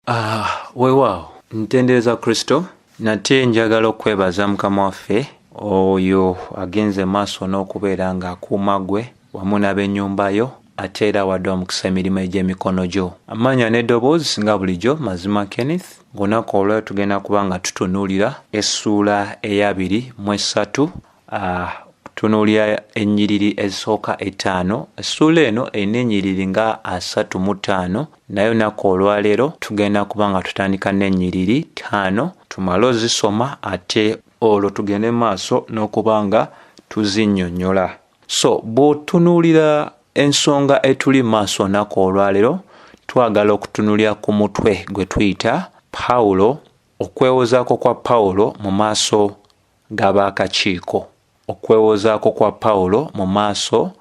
Ah, weewaawo ntendereza kristo nate njagala okwebaza mukama waffe oyo agenze maaso n'okubeera ng'akuuma gwe wamu n'ab'ennyumba yo ate era wadde omukisa emirimu egy'emikono gyo amaanya n'eddoboozi nga bulijjo mazima kenneth ng'onaku olweo tugenda kuba nga tutunuulira essuula eyabiri mu essatu Uh, tunuulira ennyiriri ezisooka ettaano essuula eno erina ennyiriri nga asatu mu ttaano naye olunaku olwaleero tugenda kuba nga tutandika n'ennyiriri ttaano tumale ozisoma ate olwo tugende maaso n'okuba nga tuzinnyonnyola so bw'otunuulira ensonga etuli maaso olunaku olwaleero twagala okutunulira ku mutwe gwe tuyita pawulo okwewozaako kwa pawulo mu maaso g'abaakakiiko. Okwewozaako kwa Pawulo mu maaso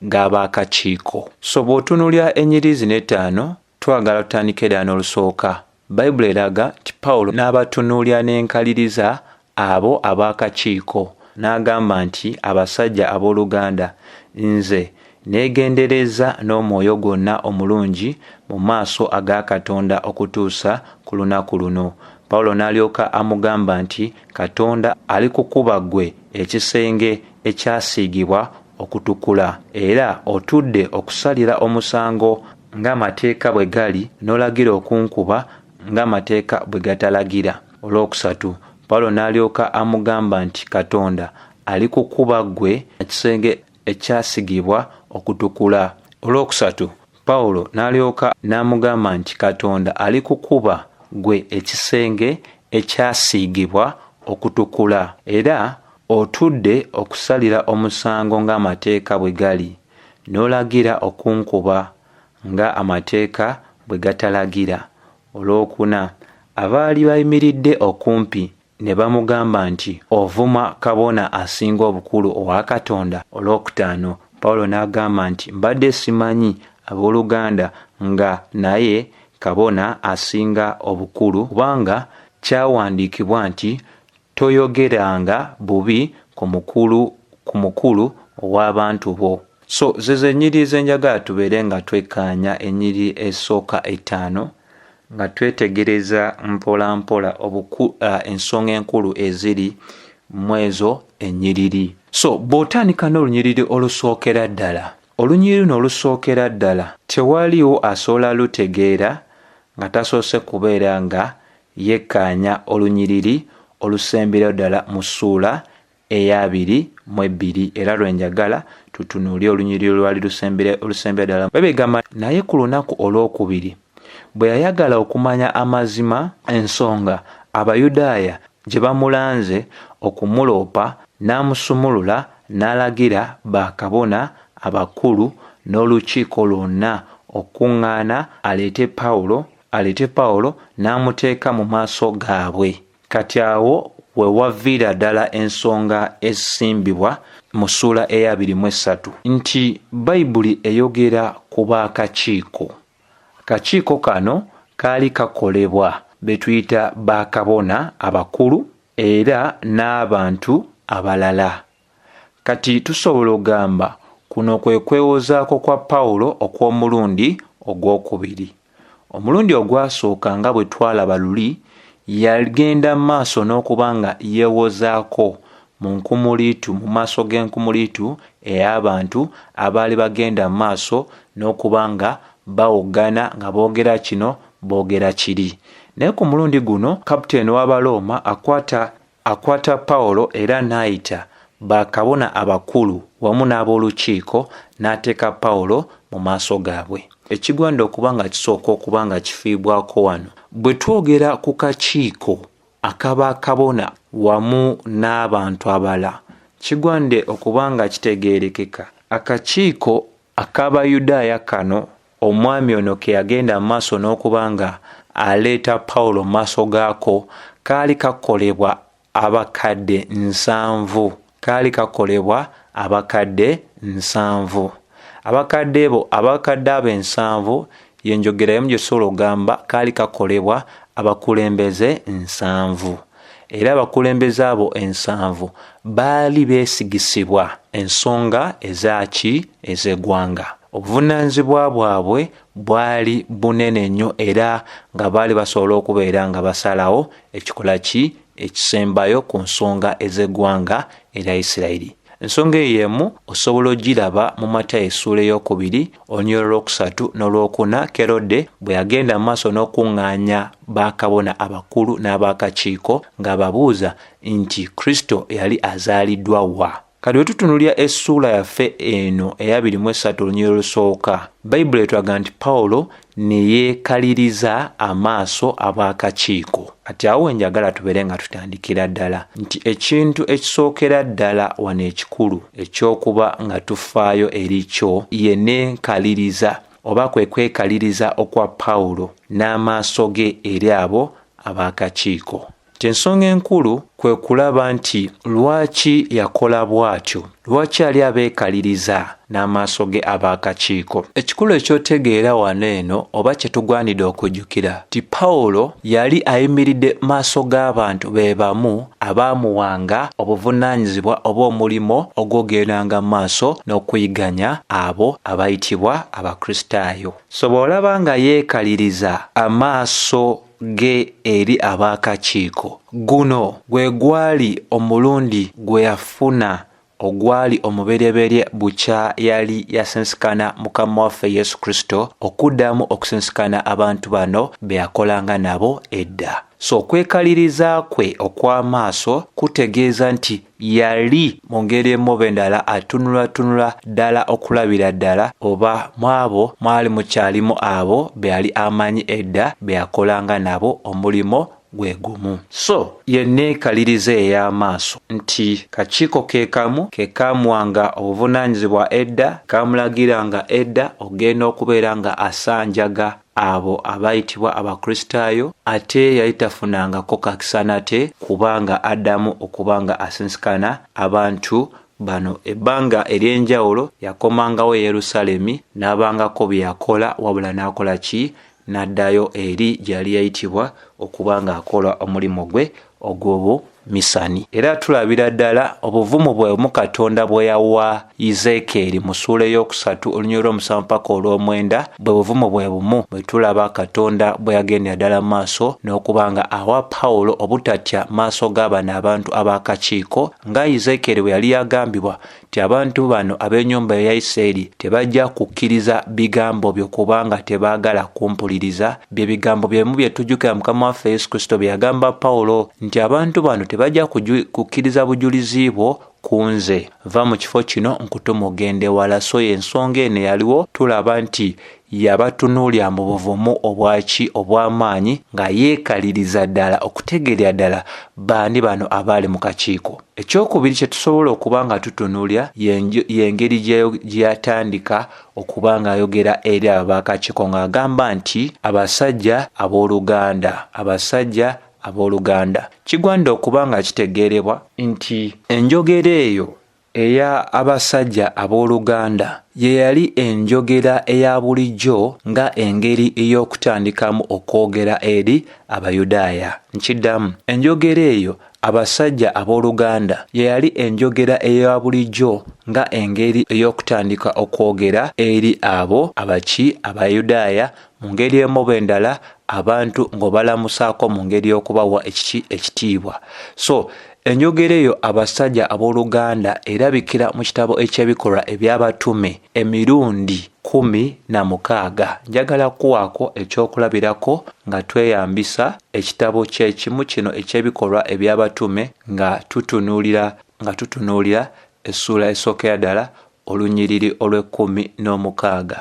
g'abaakakiiko. So bw'otunulira enyiriri zino ettaano, twagala tutandike ddala n'olusooka. Bayibuli eraga nti Pawulo n'abatunuulira n'enkaliriza abo abaakakiiko, n'agamba nti, Abasajja ab'oluganda, nze Neegenderezza n'omwoyo gwonna omulungi mu maaso aga Katonda okutuusa ku lunaku luno. Pawulo n'alyoka amugamba nti, Katonda alikukuba ggwe ekisenge ekyasiigibwa okutukula, era otudde okusalira omusango ng'amateeka bwe gali, n'olagira okunkuba ng'amateeka bwe gatalagira. Olwokusatu, Pawulo n'alyoka amugamba nti, Katonda alikukuba ggwe ekisenge ekyasigibwa okutukula. Olwokusatu, Pawulo n'alyoka n'amugamba nti Katonda ali kukuba gwe ekisenge ekyasiigibwa okutukula, era otudde okusalira omusango ng'amateeka bwe gali, n'olagira okunkuba nga amateeka bwe gatalagira. Olwokuna, abaali bayimiridde okumpi Ne bamugamba nti, Ovuma kabona asinga obukulu owa Katonda? Olwokutaano, Pawulo n'agamba nti, Mbadde simanyi, ab'oluganda, nga naye kabona asinga obukulu, kubanga kyawandiikibwa nti, Toyogeranga bubi ku mukulu, ku mukulu ow'abantu bo. So, zezo ennyiriri ze njagala tubeere nga twekkaanya, ennyiriri esooka ettaano, nga twetegereza mpola mpola obuku uh, ensonga enkulu eziri mwezo enyiriri so bw'otandika n'olunyiriri olusookera ddala olunyiriri luno olusookera ddala tewaliwo asobola lutegeera nga tasoose kubeera nga yekkaanya olunyiriri olusemberayo ddala mu ssuula eya biri mu ebbiri era lwe njagala tutunuulye olunyiriri olwali olusembera ddala bebegamba naye ku lunaku olwokubiri bwe yayagala okumanya amazima ensonga abayudaaya gye bamulanze okumuloopa n'amusumulula n'alagira bakabona abakulu n'olukiiko lwonna okukuŋŋaana aleete pawulo aleete pawulo n'amuteeka mu maaso gaabwe kati awo wewaviira ddala ensonga ezisimbibwa mu ssuula eya abiri mu essatu nti bayibuli eyogera ku baakakiiko akakiiko kano kaali kakolebwa betuyita bakabona abakulu era n'abantu abalala Kati tusobola ogamba kuno kwe kwewozaako kwa Pawulo okw'omulundi ogw'okubiri. Omulundi ogwasooka nga bwe twalaba luli, yagenda mu maaso n'okuba nga yewozaako mu nkumuliitu, mu maaso g'enkumuliitu ey'abantu abaali bagenda mu maaso n'okuba nga bawoggana nga boogera kino boogera kiri. Naye ku mulundi guno, kaputeeni w'Abalooma akwata Akwata Pawulo era n'ayita bakabona abakulu wamu n'ab'olukiiko n'ateeka Pawulo mu maaso gaabwe. Ekigwanda okuba nga kisooka okuba nga kifiibwako wano. Bwe twogera ku kakiiko akaba kabona wamu n'abantu abala, kigwande okuba nga kitegeerekeka akakiiko ak'Abayudaaya kano Omwami ono ke yagenda mu maaso n'okuba nga aleeta Pawulo mu maaso gaako kaali kakolebwa abakadde nsanvu. Kaali kakolebwa abakadde nsanvu. Abakadde bo, abakadde abo ensanvu, y'enjogera y'emu gye tusobola okugamba kaali kakolebwa abakulembeze nsanvu. era abakulembeze abo ensanvu baali beesigisibwa ensonga ezaaki ez'eggwanga obuvunaanyizibwa bwabwe bwali bunene nnyo era nga baali basobola okubeera nga basalawo ekikola ki ekisembayo ku nsonga ez'eggwanga erya isirayiri Ensonga eyo emu osobola ogiraba mu Matayo essuula ey'okubiri olunyiriro lw'okusatu n'olwokuna Kerode bwe yagenda mu maaso n'okuŋŋaanya bakabona abakulu n'ab'akakiiko ng'ababuuza nti Kristo yali azaaliddwa wa? Kati bwe tutunulira essuula yaffe eno eyabiri mu essatu olunyiriro olusooka, Bayibuli etulaga nti Pawulo ne yeekaliriza amaaso ab'akakiiko. Kati awo we njagala tubeere nga tutandikira ddala nti ekintu ekisookera ddala wano ekikulu eky'okuba nga tufaayo eri kyo ye n'enkaliriza oba kwe kwekaliriza okwa Pawulo n'amaaso ge eri abo ab'akakiiko. Ensonga enkulu kwe kulaba nti lwaki yakola bw'atyo. Lwaki yali abeekaliriza n'amaaso ge ab'akakiiko? Ekikulu eky'otegeera wano eno oba kye tugwanidde okujjukira nti Pawulo yali ayimiridde mu maaso g'abantu be bamu abaamuwanga obuvunaanyizibwa oba omulimo ogw'ogendanga mu maaso n'okuyiganya abo abayitibwa Abakristaayo. So bw'olaba nga yeekaliriza amaaso ge eri ab'akakiiko. Guno gwe gwali omulundi gwe yafuna ogwali omuberyeberye bukya yali yasinsikana Mukama waffe Yesu Kristo okuddamu okusinsikana abantu bano be yakolanga nabo edda. So okwekaliriza kwe okw'amaaso kutegeeza nti yali mu ngeri emu oba endala atunulatunula ddala okulabira ddala oba mu abo mwali mukyalimu abo be yali amanyi edda be yakolanga nabo omulimo gwe gumu. So ye nneekaliriza ey'amaaso nti kakiiko ke kamu ke kaamuwanga obuvunaanyizibwa edda, ke kaamulagiranga edda okugenda okubeera nga asanjaga, abo abaayitibwa abakristaayo ate yali tafunangako kakisa nate kuba nga addamu okuba nga asinsikana abantu bano ebbanga ery'enjawulo yakomangawo e yerusalemi n'abangako bye yakola wabula n'akola ki n'addayo eri gyeyali yayitibwa okuba ng'akola omulimu gwe ogw'obu misani era tulabira ddala obuvumu bwe mu katonda bwe yawa izeekeeri mu suula ey'okusatu olunyiri olw'omusanvu paka olw'omwenda bwe buvumu bwe bumu bwe tulaba katonda bwe yagendera ddala mu maaso n'okuba nga awa pawulo obutatya maaso g'abano abantu ab'akakiiko nga izeekeeri bwe yali yagambibwa nti abantu bano ab'ennyumba eya Isirayiri tebajja kukkiriza bigambo byo kubanga tebaagala kumpuliriza. Bye bigambo bye bimu bye tujjukira Mukama waffe Yesu Kristo bye yagamba Pawulo nti abantu bano tebajja kukkiriza bujulizi bwo ku nze. Va mu kifo kino nkutume ogende wala. So y'ensonga eno eyaliwo tulaba nti Yabatunuulira mu buvumu obwaki obw'amaanyi nga yeekaliriza ddala okutegeerera ddala baani bano abaali mu kakiiko. Ekyokubiri kye tusobola okuba nga tutunuulira y'engeri gye yatandika okuba ng'ayogera eri abo b'akakiiko ng'agamba nti abasajja ab'oluganda, abasajja ab'oluganda. Kigwanidde okuba nga kitegeerebwa nti enjogera eyo Eya abasajja ab'oluganda ye yali enjogera eya bulijjo nga engeri ey'okutandikamu okwogera eri Abayudaaya. Nkiddamu, enjogera eyo abasajja ab'oluganda ye yali enjogera eya bulijjo nga engeri ey'okutandika okwogera eri abo abaki Abayudaaya mu ngeri emu oba endala abantu ng'obalamusaako mu ngeri y'okubawa ekiki ekitiibwa. So Enjogera eyo abasajja ab'oluganda erabikira mu kitabo eky'ebikolwa eby'abatume emirundi kumi na mukaaga. Njagala kuwaako ekyokulabirako nga tweyambisa ekitabo ky'ekimu kino eky'ebikolwa eby'abatume nga tutunuulira nga tutunuulira essuula esookera ddala olunyiriri olw'ekkumi n'omukaaga.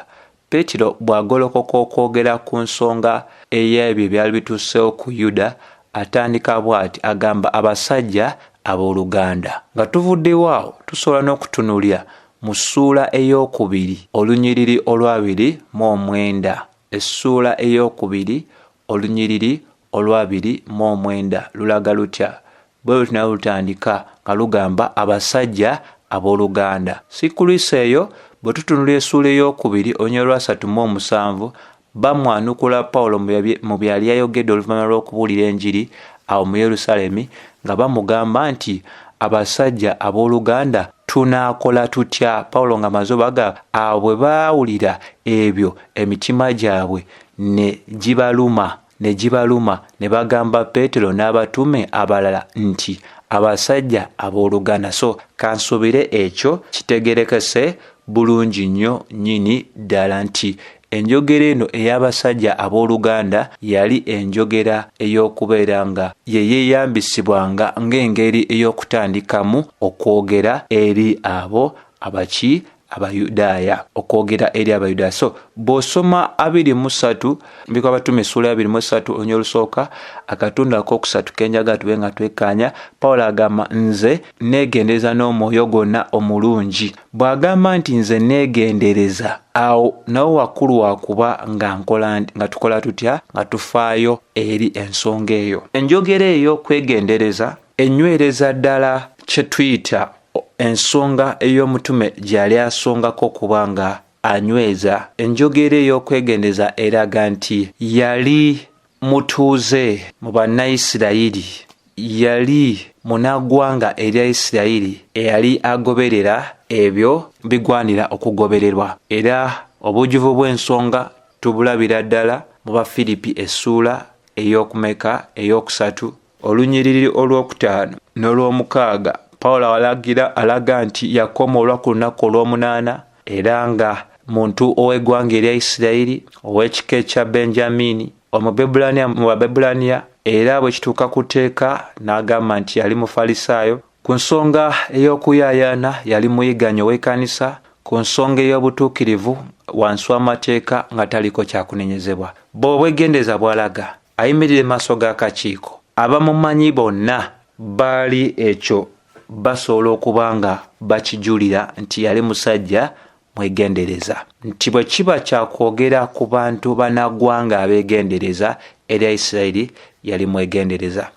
Peetero bw'agolokoka okwogera ku nsonga ey'ebyo ebyali bituuseewo ku Yuda, atandika bw'ati, agamba, Abasajja ab'oluganda. Nga tuvuddewo awo, tusobola n'okutunuulira mu ssuula ey'okubiri olunyiriri olwabiri mu omwenda, essuula ey'okubiri olunyiriri Olwabiri mu omwenda lulaga lutya? Bwe luti nalwo lutandika nga lugamba abasajja ab'oluganda. Si kulwisa eyo, bwe tutunula esuula ey'okubiri olunya olwasatu mu omusanvu, bamwanukula Paulo mu byali yayogedde oluvanyuma lw'okubuulira enjiri awo mu Yerusalemi nga bamugamba nti abasajja ab'oluganda tunaakola tutya? Paulo nga maze obaga awo bwe baawulira ebyo emitima gyabwe ne gibaluma. Ne gibaluma, ne bagamba Peetero n'abatume abalala nti, Abasajja abooluganda, so kansuubire ekyo kitegerekese bulungi nnyo nnyini ddala nti enjogera eno ey'abasajja abooluganda yali enjogera ey'okubeera nga ye yeeyambisibwanga ng'engeri ey'okutandikamu okwogera eri abo abaki abayudaaya okwogera eri abayudaaya so bw'osoma abiri mu ssatu mbiko abatuma essuula abiri mu essatu olunya olusooka akatundu ak'okusatu kenjaga tube nga twekkaanya pawulo agamba nze neegendereza n'omwoyo gwonna omulungi bw'agamba nti nze neegendereza awo nawe wakkulu wakuba nga nkola nga tukola tutya nga tufaayo eri ensonga eyo enjogera eyo kwegendereza enywereza ddala kye tuyita Ensonga ey'omutume gyeyali asongako okuba nga anyweza enjogeera ey'okwegendeza eraga nti yali mutuuze mu Bannayisirayiri, yali munaggwanga erya Isirayiri eyali agoberera ebyo bigwanira okugobererwa, era obujjuvu bw'ensonga tubulabira ddala mu Bafiripi essuula ey'okumeka? ey'okusatu Olunyiriri olwokutaano n'olwomukaaga Pawulo awalagira alaga nti yakomoolwa ku lunaku olwomunaana era nga muntu ow'eggwanga erya Isirayiri, ow'ekika ekya Benjamiini, Omubebulaniya mu Babebulaniya, era bwe kituuka ku tteeka n'agamba nti yali Mufalisaayo Ku nsonga ey'okuyaayaana yali muyiganyi ow'ekanisa ku nsonga ey'obutuukirivu wansi w'amateeka nga taliko kyakunenyezebwa. Bwe obwegendereza bwalaga ayimirire maaso g'akakiiko, abamumanyi bonna baali ekyo basobola okuba nga bakijulira nti yali musajja mwegendereza nti bwe kiba kya kwogera ku bantu banagwanga abeegendereza erya isirayiri yali mwegendereza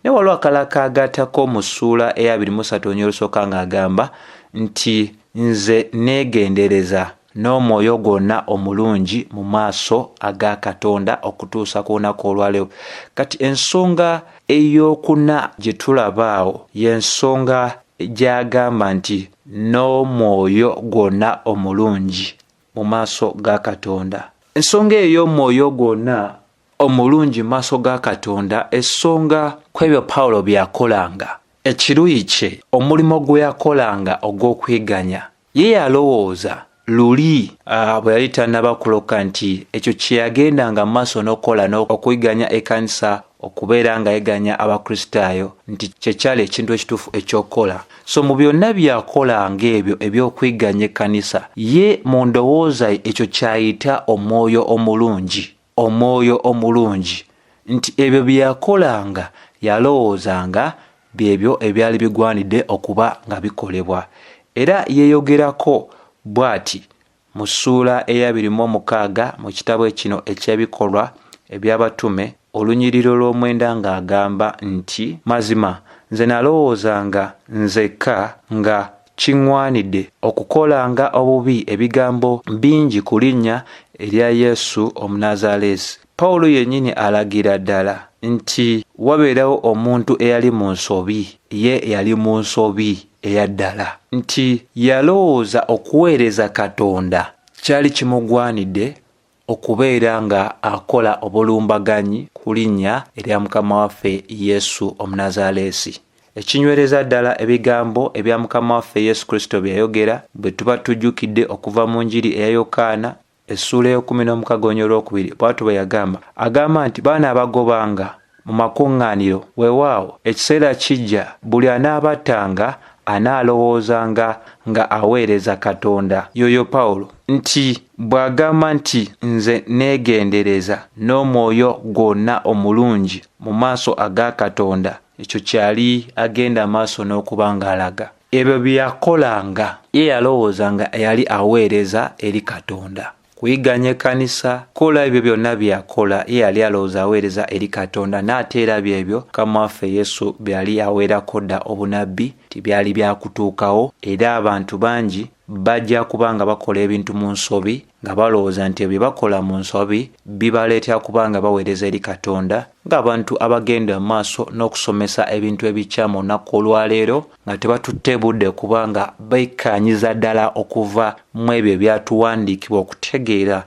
naye waliwo akala kaagatako mu ssuula eya 23 onya olusooka ng'agamba nti nze neegendereza n'omwoyo gwonna omulungi mu maaso aga katonda okutuusa ku lunaku olwaleero kati ensonga ey'okuna gye tulabaawo y'ensonga gy'agamba nti N'omwoyo gwonna omulungi mu maaso ga Katonda. Ensonga eyo y'omwoyo gwonna omulungi mu maaso ga Katonda esonga ku ebyo Pawulo bye yakolanga, ekiruyi kye, omulimo gwe yakolanga ogw'okwiganya. Ye yalowooza luli ah, bwe yali tannaba kuloka nti ekyo kye yagendanga mu maaso n'okukola n'okuyiganya ekkanisa okubeera nga yeganya abakristaayo nti kye kyali ekintu ekituufu eky'okukola so mu byonna byakola ng'ebyo eby'okwiganya ekkanisa ye mu ndowooza ye ekyo kyayita omwoyo omulungi Omwoyo omulungi nti ebyo bye yakolanga yalowooza nga byebyo ebyali bigwanidde okuba nga bikolebwa. Era yeeyogerako bw'ati mu ssuula eyabiri mu omukaaga mu kitabo kino eky'Ebikolwa eby'Abatume, olunyiriro lw'omwenda ng'agamba nti, Mazima nze nalowoozanga nzekka nga Kingwanide okukola nga obubi ebigambo bingi ku linnya erya Yesu Omunazaleesi. Pawulo yennyini alagira ddala nti wabeerawo omuntu eyali mu nsobi, ye yali mu nsobi eya ddala, nti yalowooza okuweereza Katonda kyali kimugwanide okubeera nga akola obulumbaganyi ku linnya erya mukama waffe yesu omunazaleesi ekinywereza ddala ebigambo ebya mukama waffe yesu kristo bye yayogera bwe tuba tujjukidde okuva mu njiri eya yokaana essuula ey'okumi n'omukaga onyo olwokubiri bwatu bwe yagamba agamba nti baana abagobanga mu makuŋŋaaniro, weewaawo, ekiseera kijja buli anaabattanga anaalowoozanga nga aweereza Katonda, y'oyo Pawulo, nti bw'agamba nti, Nze nneegendereza n'omwoyo gwonna omulungi mu maaso aga Katonda. Ekyo ky'ali agenda maaso n'okuba ng'alaga. Ebyo bye yakolanga, ye yalowooza nga yali aweereza eri Katonda. kuyiganya ekkanisa kola ebyo byonna byeyakola ye yali alowooza aweereza eri katonda n'ate era byebyo mukama waffe yesu byeyali aweerako dda obunabbi nti byali byakutuukawo era abantu bangi bajja kuba nga bakola ebintu mu nsobi nga balowooza nti ebyo bakola mu nsobi bibaleetera kuba nga baweereza eri katonda ng'abantu abagenda mu maaso n'okusomesa ebintu ebikyamu olunaku olwaleero nga tebatutte budde kuba nga baikkanyiza ddala okuva mu ebyo ebyatuwandiikibwa okutegeera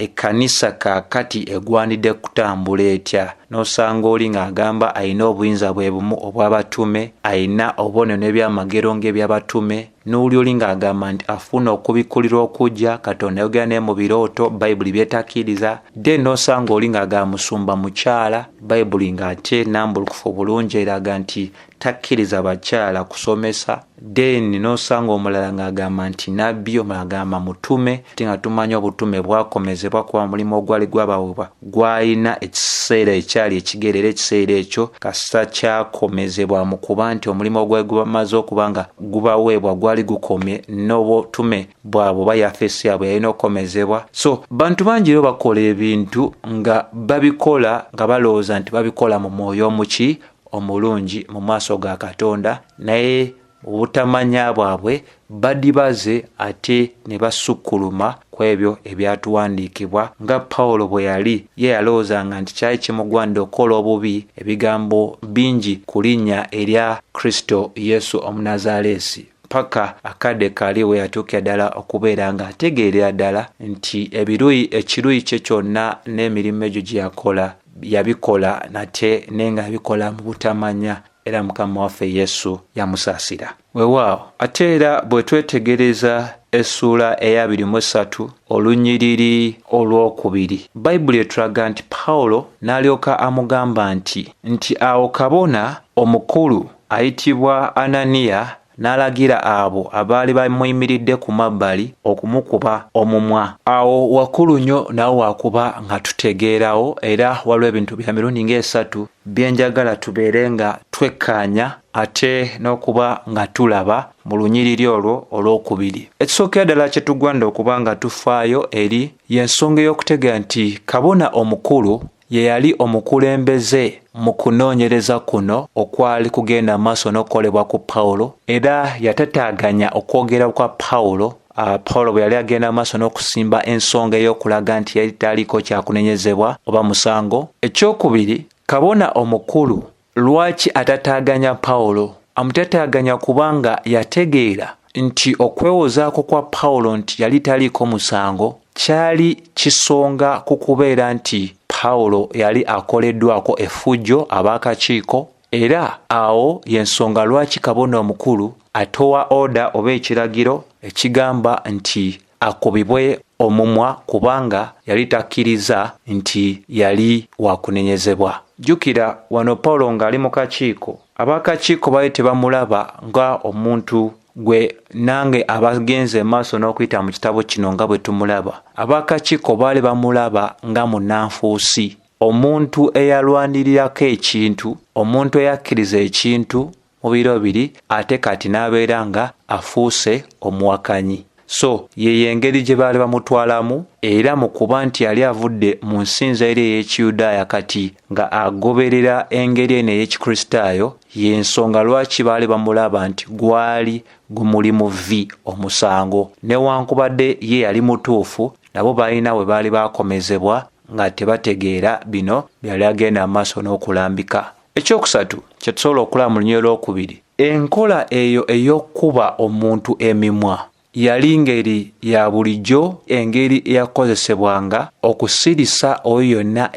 ekkanisa kaakati egwanidde kutambula etya n'osanga oli ng'agamba alina obuyinza bwe bumu obw'abatume alina obubonero n'ebyamagero ng'eby'abatume n'oli oli ng'agamba nti afuuna okubikkulirwa okujja katonda yogera naye mu birooto bayibuli byetakkiriza de n'osanga oli ng'agamba musumba mukyala bayibuli ng'ate nambulukufu obulungi eraga nti takkiriza bakyala kusomesa then nosanga omulala ng'agamba nti nabbi omulala agamba mutume ti nga tumanya obutume bwakomezebwa kuba mulimu ogwali gwabawebwa gwalina ekiseera ekyali ekigere era ekiseera ekyo kasita kyakomezebwa mu kuba nti omulimu ogwali gubamaze okuba nga gubaweebwa gwali gukomye n'obutume bwabwe oba yafeesi yabwe yalina okukomezebwa so bantu bangi ero bakola ebintu nga babikola nga balowooza nti babikola mu mwoyo omuki omulungi mu maaso ga katonda naye mu butamanya bwabwe badibaze ate ne basukkuluma ku ebyo ebyatuwandiikibwa nga pawulo bwe yali ye yalowoozanga nti kyali kimugwanidde okukola obubi ebigambo bingi ku linnya erya kristo yesu omunazaaleesi paka akadde kali we yatuukira ddala okubeera nga ategeerera ddala nti ebiruyi ekiruyi kye kyonna n'emirimu egyo gye yakola yabikola nate naye nga abikola mu butamanya era mukama waffe yesu yamusaasira wewaawo ate era bwe twetegereza essuula eyabiri mu essatu olunyiriri olwokubiri bayibuli etulaga nti pawulo n'alyoka amugamba nti nti awo kabona omukulu ayitibwa ananiya n'alagira abo abaali bamuyimiridde ku mabbali okumukuba omumwa. Awo wakulu nnyo nawe wakuba nga tutegeerawo era waliwo ebintu bya mirundi ng'esatu bye njagala tubeere nga twekkaanya ate n'okuba nga tulaba mu lunyiriri olwo olw'okubiri. Ekisookera ddala kye tugwanda okuba nga tufaayo eri y'ensonga ey'okutegeera nti kabona omukulu ye yali omukulembeze mu kunoonyereza kuno okwali kugenda mu maaso n'okukolebwa ku Pawulo, era yatataaganya okwogera kwa Pawulo Uh, Pawulo bwe yali agenda maaso n'okusimba ensonga ey'okulaga nti yali taliiko kyakunenyezebwa oba musango. Ekyokubiri, kabona omukulu Lwaki atataaganya Pawulo? Amutataaganya kubanga yategeera nti okwewozaako kwa Pawulo nti yali taliiko musango kyali kisonga ku kubeera nti Pawulo yali akoleddwako effujjo ab'akakiiko era awo y'ensonga lwaki kabona omukulu atowa oda oba ekiragiro ekigamba nti akubibwe omumwa kubanga yali takkiriza nti yali wakunenyezebwa. Jjukira wano Pawulo ng'ali mu kakiiko, ab'akakiiko baali tebamulaba nga omuntu gwe nange abagenze emaaso n'okuyita mu kitabo kino nga bwe tumulaba. Ab'akakiiko baali bamulaba nga munanfuusi, omuntu eyalwanirirako ekintu, omuntu eyakkiriza ekintu mu biro biri ate kati n'abeera nga afuuse omuwakanyi so yeyo engeri gye baali bamutwalamu era mu kuba nti yali avudde mu nsinza eri ey'ekiyudaaya kati nga agoberera engeri eno ey'ekikristaayo y'ensonga lwaki baali bamulaba nti gwali gumuli mu vi omusango newankubadde ye yali mutuufu nabo balina we baali baakomezebwa nga tebategeera bino byali agenda mu maaso n'okulambika ekyokusatu kyetusobola okulaba mu lunyiriri lwokubiri enkola eyo ey'okukuba omuntu emimwa yali ngeri ya bulijjo engeri eyakozesebwanga okusirisa oyo yonna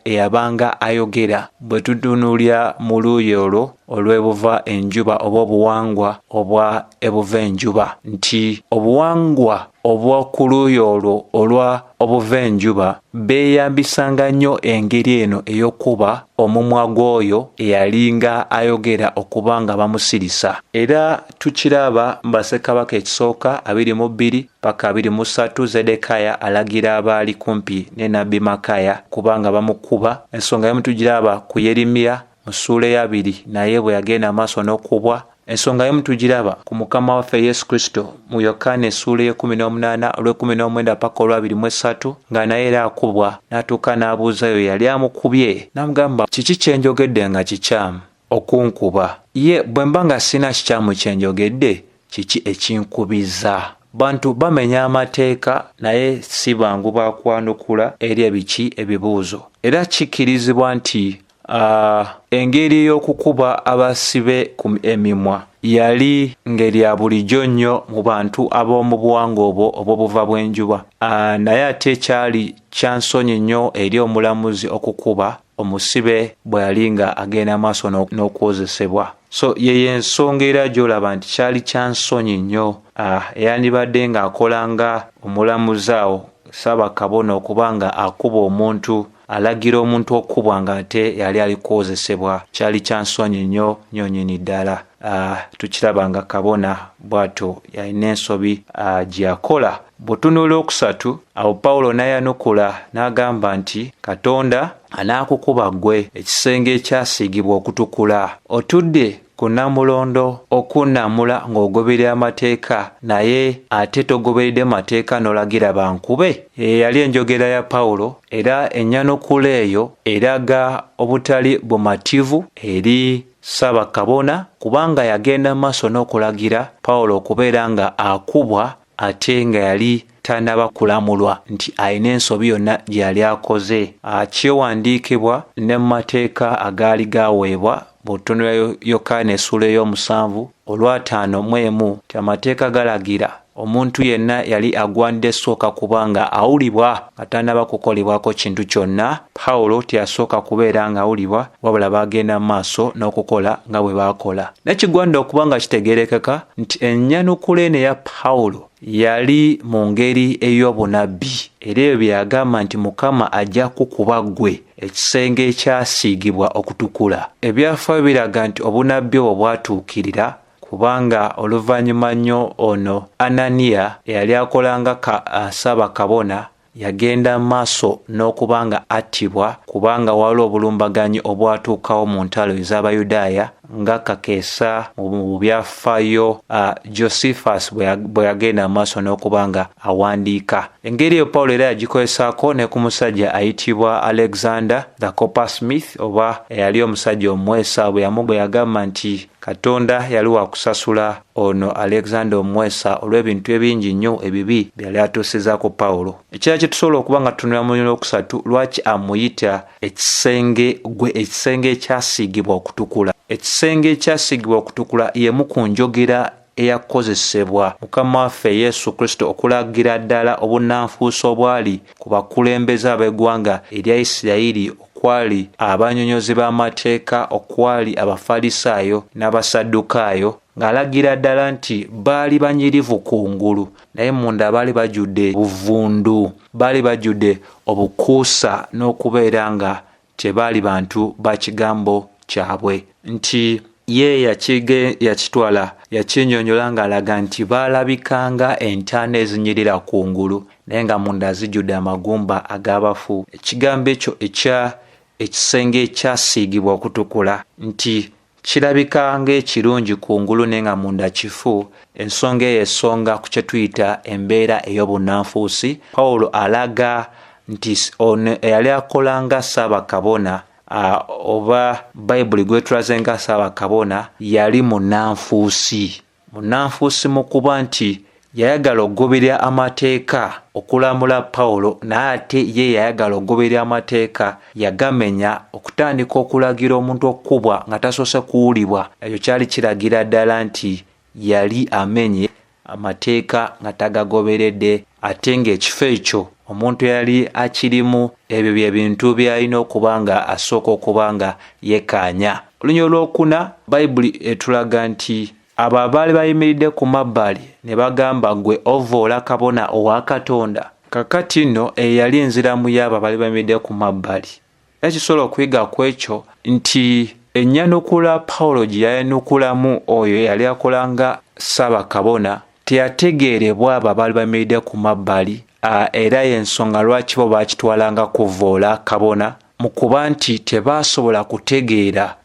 eyabanga ayogera bwe tutunuulira mu luuyi olwo olw'ebuva enjuba oba obuwangwa obwa ebuva enjuba nti obuwangwa obw'oku luuyi olwo olwa Obuva enjuba beeyambisanga nnyo engeri eno ey'okukuba omumwa gw'oyo eyalinga ayogera okuba nga bamusirisa. Era tukiraba mu Bassekabaka Ekisooka abiri mu bbiri paka abiri mu ssatu Zedekaya alagira abaali kumpi ne nabbi Makaya okuba nga bamukuba. Ensonga y'omu tugiraba ku Yerimiya mu ssuula eyabiri naye bwe yagenda amaaso n'okubwa ensonga yemu tugiraba ku mukama waffe yesu kristo mu yokaana essuula ey'ekumi n'omunaana olw'ekumi n'omwenda paka olwabiri mu essatu nga naye era akubwa n'atuuka n'abuuzayo yali amukubye n'amugamba kiki kye njogedde nga kikyamu okunkuba ye bwe mba nga sirina kikyamu kye njogedde kiki ekinkubiza bantu bamenya amateeka naye si bangu bakwanukula eri ebiki ebibuuzo era kikkirizibwa nti Uh, engeri ey'okukuba abasibe ku emimwa yali ngeri ya bulijjo nnyo mu bantu ab'omu buwanga obwo obw'obuva bw'enjuba uh, naye ate ekyali kyansonyi nnyo eri omulamuzi okukuba omusibe bwe yali nga agenda maaso n'okwozesebwa so yeyo ensonga era gy'olaba nti kyali kyansonyi nnyo uh, eyandibadde ng'akola nga omulamuzi awo saabakabona okuba nga akuba omuntu Alagira omuntu okukubwa nga ate yali ali kuwozesebwa kyali kya nsonyi nnyo nyo nyini ddala. Uh, tukiraba nga kabona bw'atyo yalina ensobi uh, gye yakola. Butunula okusatu awo Pawulo n'ayanukula n'agamba nti Katonda anaakukuba ggwe ekisenge ekyasiigibwa okutukula. Otudde Ku Namulondo okunnamula ng'ogoberera amateeka naye ate togoberedde mateeka n'olagira bankube, eyo yali enjogera ya Pawulo era ennyanukula eyo eraga obutali bumativu eri Ssaabakabona kubanga yagenda mu maaso n'okulagira Pawulo okubeera nga akubwa ate nga yali tanaba kulamulwa nti alina ensobi yonna gye yali akoze kyewandiikibwa ne mu mateeka agaali gaaweebwa bw'otunula yokaana essuula ey'omusanvu olwataano mu emu nti amateeka galagira omuntu yenna yali agwanidde sooka kuba nga awulibwa Nga tannaba kukolebwako kintu kyonna, Pawulo teyasooka kubeera ng'awulibwa, wabula baagenda mu maaso n'okukola nga bwe baakola. Naye kigwanidde okuba nga kitegeerekeka nti ennyanukula eno eya Pawulo yali mu ngeri ey'obunabbi, era ebyo bye yagamba nti Mukama ajja kukuba ggwe ekisenge ekyasiigibwa okutukula. Ebyafaayo biraga nti obunabbi obwo bwatuukirira. kubanga oluvannyuma nnyo ono Ananiya eyali akola nga ka, uh, ssaabakabona yagenda mu maaso n'okuba nga attibwa kubanga waliwo obulumbaganyi obwatuukawo mu ntalo ez'abayudaaya nga kakeesa mu byafaayo uh, josephus bwe yagenda mu maaso n'okuba nga awandiika engeri eyo pawulo era yagikolesaako ne ku musajja ayitibwa alexander the copper smith oba eyali omusajja omwesa bwe yamugwe yagamba nti Katonda yali wa kusasula ono Alexander Omwesa olw'ebintu ebingi nnyo ebibi bye yali atuusizza ku Pawulo. Ekirala kye tusobola okuba nga tutunula mu mubiri okusatu lwaki amuyita ekisenge gwe ekisenge ekyasiigibwa okutukula. Ekisenge ekyasiigibwa okutukula y'emu ku njogera eyakozesebwa Mukama waffe Yesu Kristo okulagira ddala obunnanfuusi obwali ku bakulembeze ab'eggwanga erya Isirayiri okwali abanyonyozi b'amateeka okwali Abafalisaayo n'Abasaddukaayo, ng'alagira ddala nti baali banyirivu kungulu naye munda baali bajjudde buvundu, baali bajjudde obukuusa n'okubeera nga Tebaali bantu ba kigambo kyabwe nti ye yakige yakitwala yakinyonyola ng'alaga nti baalabikanga entaana ezinyirira ku ngulu naye nga munda zijjudde amagumba ag'abafu. Ekigambo ekyo ekya ekisenge ekyasiigibwa okutukula nti Kirabika ng'ekirungi kungulu naye nga munda kifu. Ensonga eyo esonga ku kye tuyita embeera ey'obunnanfuusi. Pawulo alaga nti ono eyali akola nga ssaabakabona oba Bayibuli gwetulaze nga ssaabakabona yali munnanfuusi. Munnanfuusi mu kuba nti yayagala okugoberera amateeka okulamula Pawulo naye ate ye yayagala okugoberera amateeka yagamenya okutandika okulagira omuntu okukubwa nga tasoose kuwulibwa ekyo kyali kiragira ddala nti yali amenye amateeka nga tagagoberedde ate ng'ekifo ekyo omuntu eyali akirimu ebyo bye bintu byalina okuba nga asooka okuba nga yekaanya olunya olwokuna bayibuli etulaga nti abo abaali bayimiridde ku mabbali ne bagamba gwe ovoola kabona owa katonda kakati nno eyo yali enziramu yaabo abaali bayimiridde ku mabbali Era kisobola okuyiga ku ekyo nti ennyanukula Pawulo gye yayanukulamu oyo eyali akola nga ssaabakabona teyategeerebwa abo abaali bamiridde ku mabbali, era y'ensonga lwaki bo baakitwala nga kuvvoola kabona mu kuba nti tebaasobola kutegeera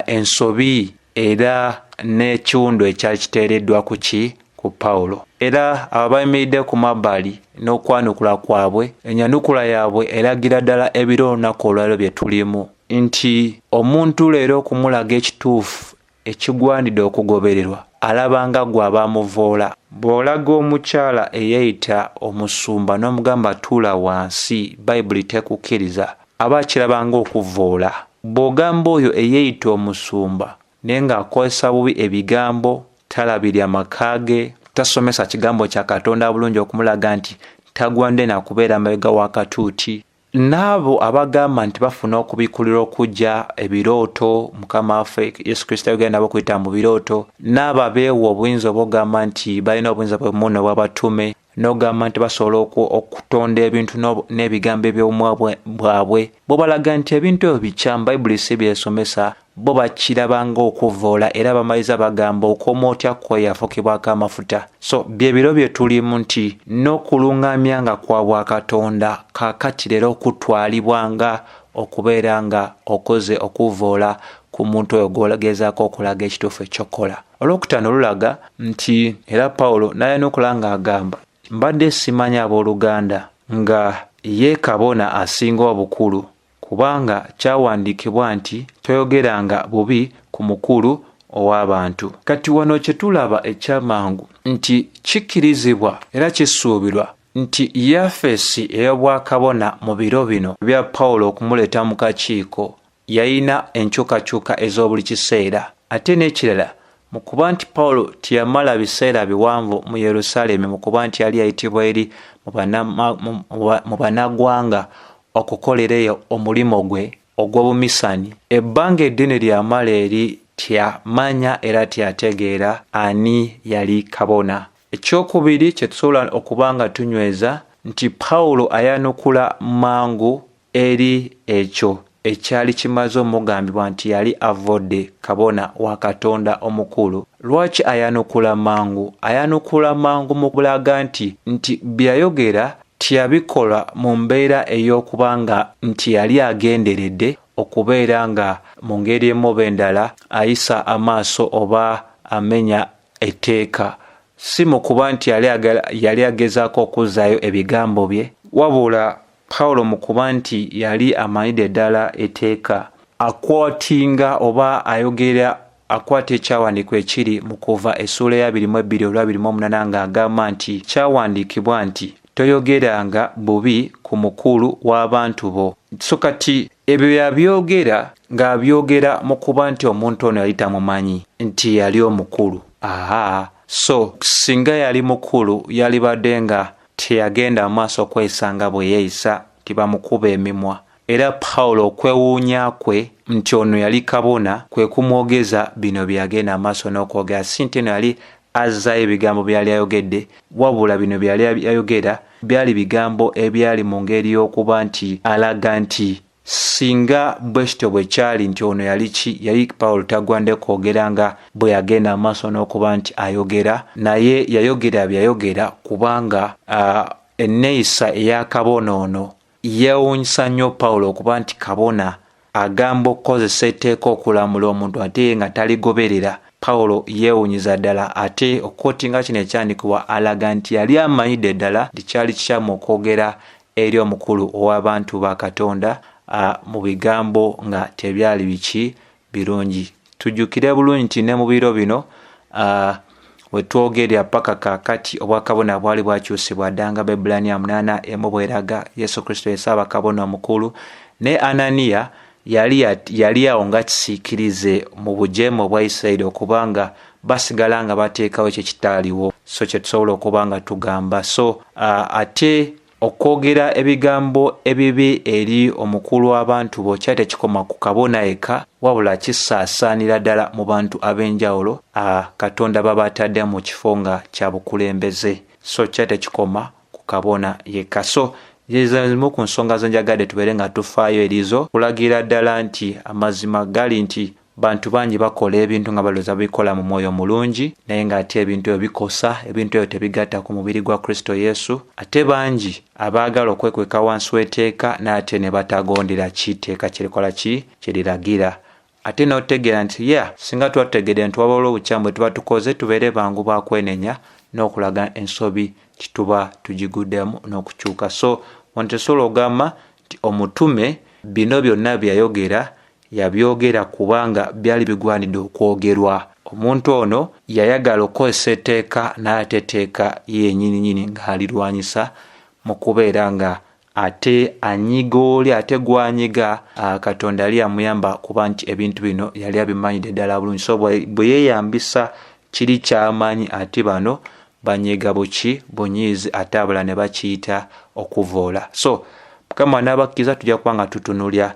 ensobi Era n'ekiwundu ekyali kiteereddwa ku ki? Ku Pawulo. Era abo bayimiridde ku mabbali n'okwanukula kwabwe, enyanukula yaabwe eragira ddala ebiro olunaku olwaliro bye tulimu, nti omuntu leero okumulaga ekituufu ekigwanidde okugobererwa, alaba nga gw'aba amuvoola. Bw'olaga omukyala eyeeyita omusumba n'omugamba tuula wansi, Bayibuli tekukkiriza, Aba akiraba ng'okuvvoola. Bw'ogamba oyo eyeeyita omusumba naye ng'akozesa bubi ebigambo, talabirira maka ge, tasomesa kigambo kya Katonda bulungi okumulaga nti tagwande na kubeera mabega wa katuuti. N'abo abagamba nti bafuna okubikkulirwa okujja ebirooto, Mukama waffe Yesu Kristo yayogera nabo okuyita mu birooto, n'abo abeewa obuyinza oba ogamba nti balina obuyinza bwe muno obw'abatume, n'ogamba nti basobola okutonda ebintu n'ebigambo eby'obumwa bwabwe bwebalaga nti ebintu ebyo bikyamu bayibuli si byesomesa bo bakiraba ng'okuvvoola era bamaliza bagamba okoma otya kwe yafukibwako amafuta so bye biro bye tulimu nti n'okulung'amya nga kwa bwakatonda kaakati leero okutwalibwa nga okubeera nga okoze okuvvoola ku muntu oyo gw'ogezaako okulaga ekituufu ekyokukola olwokutaano lulaga nti era pawulo n'alina okulaba ng'agamba mbadde simanyi abooluganda nga ye kabona asinga obukulu kubanga kyawandiikibwa nti toyogeranga bubi ku mukulu ow'abantu kati wano kye tulaba ekyamangu nti kikkirizibwa era kisuubirwa nti yafeesi ey'obwakabona mu biro bino bya pawulo okumuleeta mu kakiiko yalina enkyukakyuka ez'obuli kiseera. Ate n'ekirala, mu kuba nti Pawulo teyamala biseera biwanvu mu Yerusaalemi mu kuba nti yali yayitibwa eri mu banagwanga okukolera eyo omulimu gwe ogw'obumisani, ebbanga eddene lyamala eri teyamanya era teyategeera ani yali kabona. Ekyokubiri kye tusobola okuba nga tunyweza nti Pawulo ayanukula mangu Eri ekyo ekyali kimaze omugambibwa nti yali avvodde kabona wa Katonda omukulu, lwaki ayanukula mangu? Ayanukula mangu mu kulaga nti nti bye yayogera tyabikola mu mbeera ey'okuba nga nti yali agenderedde okubeera nga mu ngeri emu oba endala ayisa amaaso oba amenya etteeka, si mu kuba nti yali yali agezaako okuzzaayo ebigambo bye, wabula Pawulo mu kuba nti yali amanyidde ddala eteeka, akwatinga oba ayogera akwata ekyawandiikwa ekiri mu kuva essuula eya biri mu ebbiri olwa biri mu omunana nga agamba nti kyawandiikibwa nti toyogeranga bubi ku mukulu w'abantu bo. So kati Ebyo yabyogera ng'abyogera mu kuba nti omuntu ono yali tamumanyi nti yali omukulu. Aha, so singa yali mukulu yalibadde nga teyagenda mu maaso kweyisa nga bwe yeeyisa nti bamukuba emimwa. Era Pawulo okwewuunya kwe nti ono yali kabona kwe kumwogeza bino bye yagenda mu maaso n'okwogera, si nti eno yali Azzaayo ebigambo byali ayogedde, wabula bino byali ayogera byali bigambo ebyali mu ngeri y'okuba nti alaga nti singa bwe kityo bwe kyali nti ono yali ki yali Pawulo tagwande kwogera nga bwe yagenda amaaso n'okuba nti ayogera naye yayogera bye yayogera kubanga enneeyisa ey'akabonoono Yeewuunyisa nnyo Pawulo okuba nti kabona agamba okukozesa etteeka okulamula omuntu ate ye nga taligoberera. Pawulo yeewunyiza ddala ate okukootinga kino ekyandikibwa alaga nti yali amanyidde ddala nti kyali kikyamu okwogera eri omukulu ow'abantu ba Katonda mu bigambo nga tebyali biki birungi tujukire bulungi nti ne mu biro bino uh, wetwogerera paka kakati obwakabona bwali bwakyusibwa ddanga baibulaniya munaana emu bweraga yesu kristo yesaaba kabona omukulu ne ananiya yali yali awo nga kisiikirize mu bujeemu obwa isirairi okuba nga basigala nga bateekawo ekyo kitaaliwo so kyetusobola okuba nga tugamba so uh, ate Okwogera ebigambo ebibi eri omukulu w'abantu bokya tekikoma ku kabona yekka, wabula kisaasaanira ddala mu bantu ab'enjawulo a Katonda baba atadde mu kifo nga kya bukulembeze. So kya tekikoma ku kabona yekka. So zezo zimu ku nsonga ze njagadde tubeere nga tufaayo erizo kulagira ddala nti amazima gali nti bantu bangi bakola ebintu nga baloza bikola mu mwoyo mulungi naye nga ate ebintu ebyo bikosa ebintu ebyo tebigatta ku mubiri gwa kristo yesu ate bangi abaagala okwekweka wansi w'eteeka n'ate ne batagondera ki teeka kyerikola ki kyeriragira ate n'otegeera nti ya singa tuba tutegedde nti waba olwo obukyamu bwe tuba tukoze tubeere bangu ba kwenenya n'okulaga ensobi kituba tugiguddemu n'okukyuka so ono tesobola ogamba nti omutume bino byonna byeyayogera Yabyogera kubanga byali bigwanidde okwogerwa. Omuntu ono yayagala okukozesa etteeka n'ate etteeka ye yenyininyini ng'alirwanyisa mu kubeera nga ate anyiga oli ate gwanyiga Katonda yali yamuyamba kuba nti ebintu bino yali abimanyidde ddala bulungi so bwe yeeyambisa kiri kyamanyi ati bano banyiga buki bunyiizi ate abala ne bakiyita okuvoola so mukama n'abakkiriza tujja kuba nga tutunulya